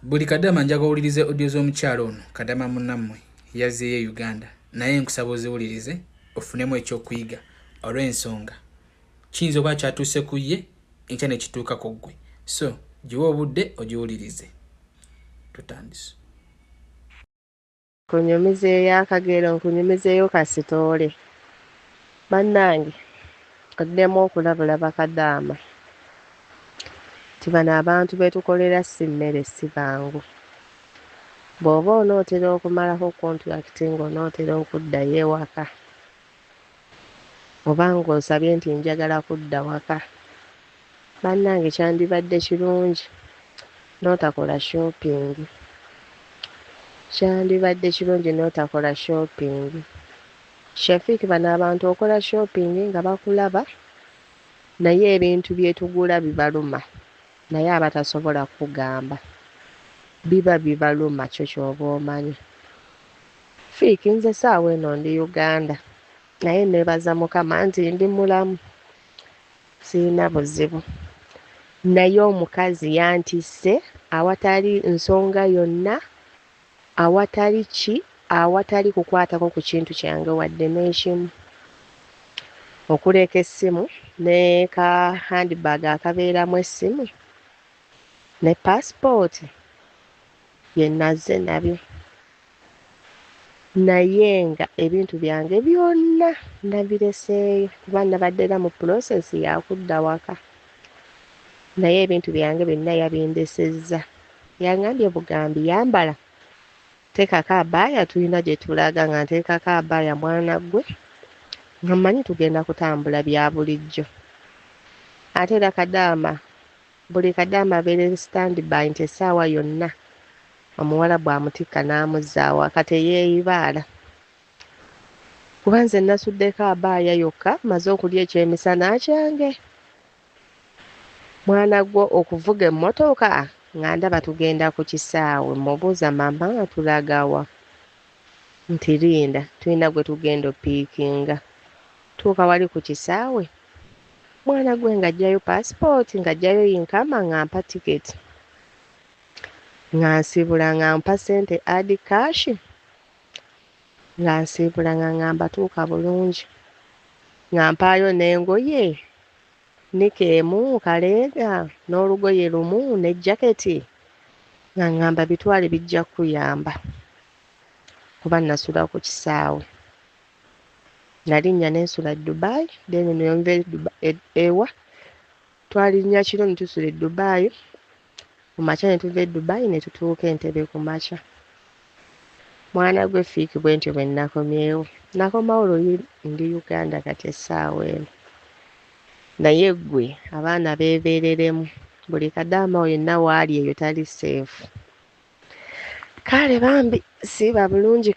buli kadama njaga owulirize audio z'omukyalo ono kadama munammwe yazzeeyo e uganda naye nkusaba oziwulirize ofunemu ekyokuyiga olw'ensonga kiyinza okuba kyatuuse ku ye enkya nekituuka ku ggwe so giwe obudde ogiwulirize tutandise Nkunyumizeeyo akagero nkunyumizeeyo ka sitoole bannange oddemu okulabula bakadaama nti bano abantu be tukolera si mmere si bangu. Bw'oba onootera okumalako kontulakiti ng'onootera okuddayo ewaka. oba nga onsabye nti njagala kudda waka banange kyandibadde kilungi notakola shopping kyandibadde kilungi notakola shopping Shafiq bano abantu okola shopping nga bakulaba naye ebintu byetugula bibaluma naye abatasobola kukugamba biba bibaluma kyo kyoba omanyi. Fik nze saawa eno ndi Uganda naye nebaza mukama nti ndi mulamu sirina buzibu naye omukazi yantisse awatali nsonga yonna awatali ki awatali kukwatako ku kintu kyange wadde n'ekimu okuleeka essimu ne ka handbag akabeeramu essimu ne paasipooti Bye nazze nabyo naye nga ebintu byange byonna nabireseeyo kuba nabadde era mu pulosesi yakudda waka naye ebintu byange byonna yabindesezza yangambye bugambi yambala teekako abaaya tulina gye tulaga nga nteekako abaaya mwana ggwe nga mmanyi tugenda kutambula bya bulijjo ate era kadaama Buli kadaama abeera in stand by nti esaawa yonna omuwarabu amutikka namuzza awaka teyeyibaala kuba nze nasuddeko abaaya yokka maze okulya ekyemisana kyange mwana gwe okuvuga emmotoka nga ndaba tugenda ku kisaawe mubuuza mama tulagawa nti linda tulina gwe tugenda opiikinga tuuka wali ku kisaawe Mwana gwe nga jjayo passport nga jjayo yinkama nga mpa ticket nga nsibula nga mpa sente add cash nga nsiibula nga ngamba tuuka bulungi nga mpaayo n'engoye nika emu kaleega n'olugoye lumu ne jaketi nga ngamba bitwale bijja kukuyamba kuba nasula ku kisaawe nalinnya nensula e Dubai then neyonva e Dubai e, ewa twalinnya kiro netusula e Dubai kumakya netuva e Dubai netutuuka Entebbe kumakya mwana gwe fiiki bwentyo bwenakomyewo nakomawo luli ndi Uganda kati essaawa eno naye ggwe abaana beebeereremu buli kadaama oyo yenna waali eyo tali seefu kale bambi siiba bulungi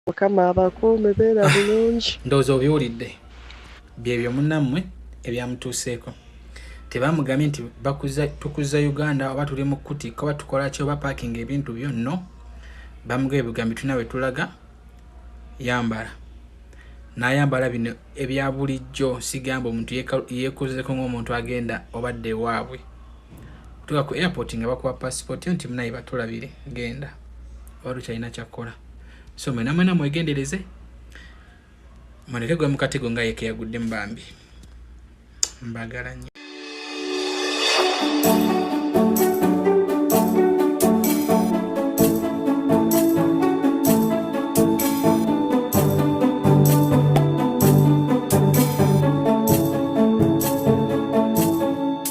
mukama abakuume beera ah, bulungi ndowooza obiwulidde byebyo munammwe ebyamutuuseeko tebamugambye nti tukuza uganda oba tuli mu kuti koba tukolaki oba pakinga ebintu byo no bamugaba ebigambo tulina we tulaga yambala nayambala bino ebya bulijjo sigamba omuntu yekozeko ngaomuntu agenda obadde ewaabwe otuka ku airport nga bakuwa passport yo nti munaye batulabire genda wali ukyalina kyakkola so mwena mwena mwegendereze muleke gwe mukatego nga yeke yagudde mubambi mbagala nyo